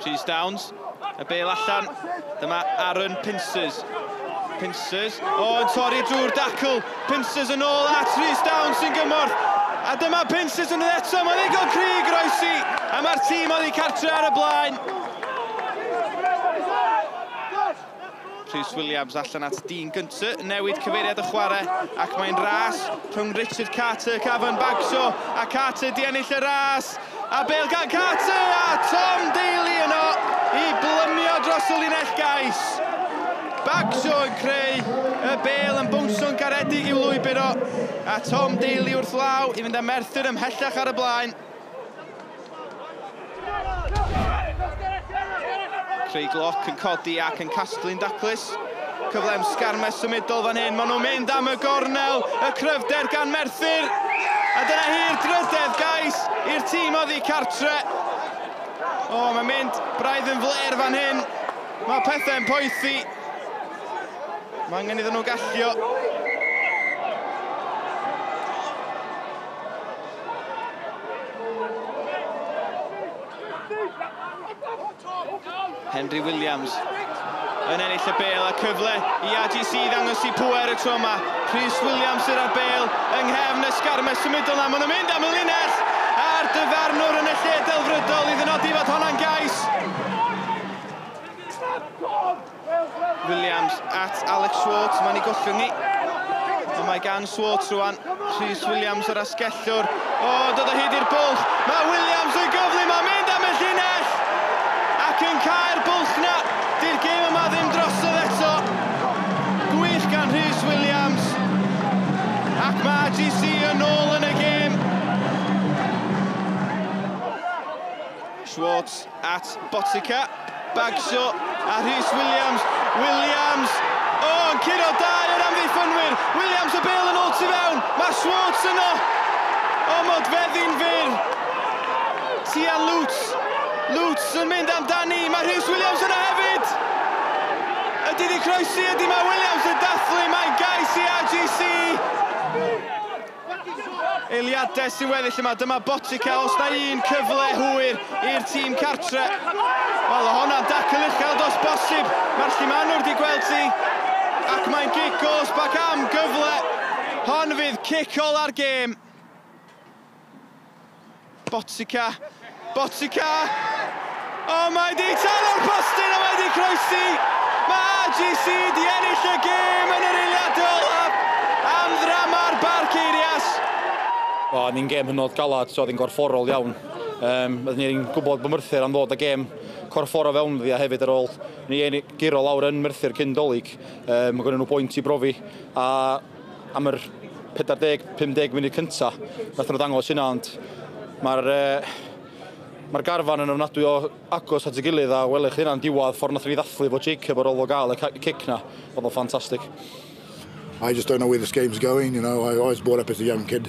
Rhys Downs, y bel allan, dyma Aaron Pincers. Pincers, o, yn torri drwy'r dacl, Pincers yn ôl at Rhys Downs sy'n gymorth. A dyma Pincers yn eto, mae'n ddigon cri groesi, a mae'r tîm oddi cartre ar y blaen. Rhys Williams allan at Dean Gunter, newid cyfeiriad y chwarae ac mae'n ras rhwng Richard Carter, Cavan Bagshaw a Carter di ennill y ras a bel gan Carter a Tom Daly yno i blymio dros y linell gais. Bagshaw yn creu y bel yn bownsio'n garedig i'w lwybr o a Tom Daly wrth law i fynd â Merthyr ymhellach ar y blaen. Craig Glock yn codi ac yn casglu'n daclus. Cyfle am sgarmes symudol fan hyn. Maen nhw'n mynd am y gornel. Y cryfder gan Merthyr. A dyna hi'r drydedd gais i'r tîm oddi cartre. O, oh, mae'n mynd braidd yn fler fan hyn. Mae pethau'n poethi. Mae angen iddyn nhw gallio. Henry Williams yn ennill y bel a cyfle i AGC ddangos i pwer y tro yma. Rhys Williams sydd â'r bel yng nghefn y sgarma symudol yna. Maen nhw'n mynd am y linell a'r dyfarnwr yn y lle delfrydol i ddynodi fod honna'n gais. Williams at Alex Swartz, mae'n ei gollwng ni. Ond mae gan Swartz rwan, Rhys Williams yr asgellwr. O, dod o hyd i'r bwlch, mae Williams yn gyflu, mae'n mynd am y llinell! Ac yn cael bwlch na, di'r gêm yma ddim drosodd eto. Gwych gan Rhys Williams. Ac mae AGC yn ôl yn y gêm. Schwartz At Botica, Bagshaw a Rhys Williams. Williams! O, oh, yn curo dau o'r amddiffynwyr. Williams y bel yn ôl tu fewn. Mae Schwartz yno. O, mod feddi'n fyr. Tia Lutz. Lutz yn mynd amdani. Mae Rhys Williams yno hefyd. Ydy di croesi, ydy mae Williams yn dathlu. Mae'n gais i RGC. Eiliades i weddill yma, dyma Botica, os na un cyfle hwyr i'r tîm cartre. Wel, o honna'n dacl uchel dos bosib, mae'r llimanwr di gweld ti, ac mae'n gig gos bac am gyfle. Hon fydd cic ola'r gêm. Botsica! Botsica! O, mae di talo'r postyn a mae di croesi! Mae AGC di ennill y gêm yn yr eiliad olaf am ddrama'r Barceirias! O'n ni'n gêm hynod galad, so oedd hi'n gorfforol iawn. Um, oedd ni'n gwybod bod Merthyr am ddod y gêm corffor o fewn ddi a hefyd ar ôl ni giro lawr yn Merthyr cyn dolyg. Um, mae gen nhw bwynt i brofi a am yr 40, 50 munud cynta, nath nhw ddangos hynna, ond mae'r uh, mae'r garfan yn ofnadwy o agos at y gilydd a welech chi hynna'n diwadd ffordd nath ni ddathlu fo Jacob ar ôl o gael y cic na, oedd o'n ffantastig. I just don't know where this game's going, you know, I was brought up as a young kid.